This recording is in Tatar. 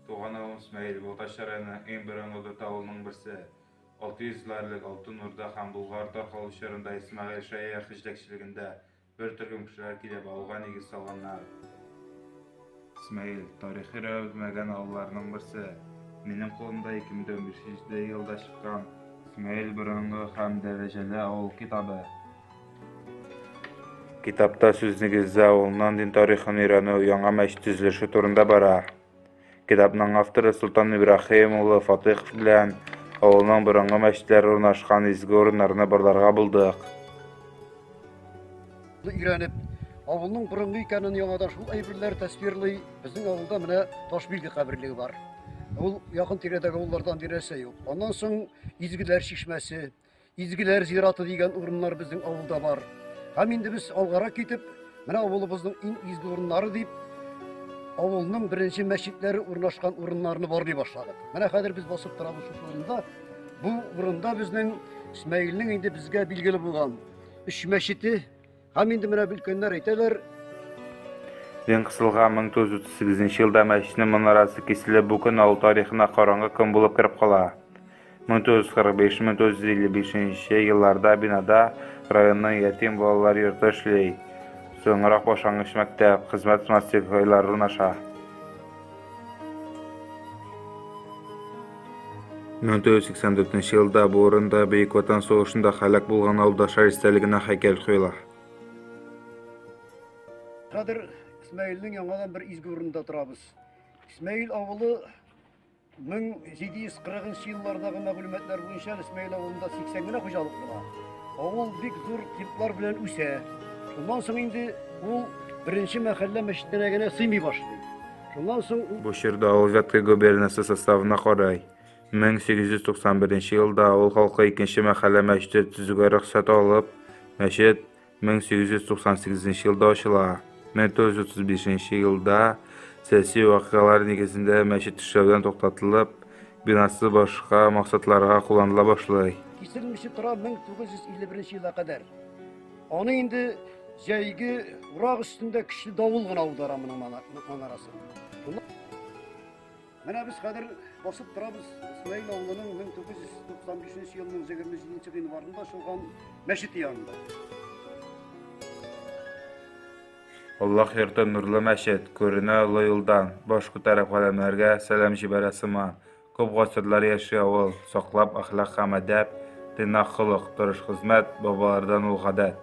Туган авылым Смәел, Балтачы районының иң борынгы дүрт авылының берсе. 600 еллар элек Алтын Урда һәм Болгар таркалу чорында Исмәгыйль Шәяхи җитәкчелегендә бер төркем кешеләр килеп, авылга нигез салганнар. Смаил, тарихи рәвелмәгән авылларның берсе. Минем кулымда 2015 елда чыккан Смаил борынгы һәм дәрәҗәле авыл китабы. Китапта сүз нигездә авылның дин тарихын өйрәнү, яңа мәч төзелеше турында бара. Китапның авторы Султан Ибрахим улы Фатыйхов белән авылның борынгы мәчетләре урнашкан изге урыннарны барларга булдык. Ны өйрәнеп, авылның борынгы икәнен яңадан шул әйберләр тәсвирлый. Безнең авылда менә Ташбилге каберлеге бар. Ул якын тирәдәге авыллардан берәрсе юк. Аннан соң Изгеләр чишмәсе, Изгеләр зираты дигән урыннар безнең авылда бар. Һәм инде без алгарак китеп, менә авылыбызның иң изге урыннары дип авылның беренче мәчетләре урнашкан урыннарны барлый башладык. Менә хәзер без басып торабыз шушы урында. Бу урында безнең Исмәгыйльнең инде безгә билгеле булган Үч мәчете һәм инде менә өлкәннәр әйтәләр. Дин кысылга 1938 елда мәчетнең манарасы киселеп, бу көн авыл тарихына караңгы көн булып кереп кала. 1945-1955 елларда бинада районның ятим балалар йорты эшли. Соңрак башлангыч мәктәп, хезмәт мастер-хайлар урнаша. 1984 елда бу урында Бөек Ватан сугышында һәлак булган авылдашлар истәлегенә һәйкәл куела. Хәзер Исмәгыйльнең яңадан бер изге урында торабыз. Исмәгыйль авылы 1740 еллардагы мәгълүматлар буенча Исмәгыйль авылында 80 генә хуҗалык була. Авыл бик зур темплар белән үсә. Шуннан соң инде ул беренче мәхәллә мәчетенә генә сыймый башлый. Шуннан соң ул Бу чорда авыл Вятка губернасы составына карый. 1891 елда авыл халкы икенче мәхәллә мәчете төзүгә рөхсәт алып, мәчет 1898 елда ачыла. 1935 елда сәяси вакыйгалар нигезендә мәчет эшләүдән туктатылып, бинасы башка максатларга кулланыла башлый. Киселмичә тора 1951 елга кадәр. Аны инде җәйге урак өстендә көчле давыл гына аудара моның манарасын. Менә без хәзер басып торабыз Исмаил авылының 1995 елның 27 гыйнварында ачылган мәчете янында. Аллаһ йорты нурлы мәчет, күренә олы юлдан, баш күтәреп галәмнәргә сәлам җибәрә сыман. Күп гасырлар яши авыл, саклап әхлак һәм әдәп, тыйнак холык, тырыш хезмәт, бабалардан ул гадәт.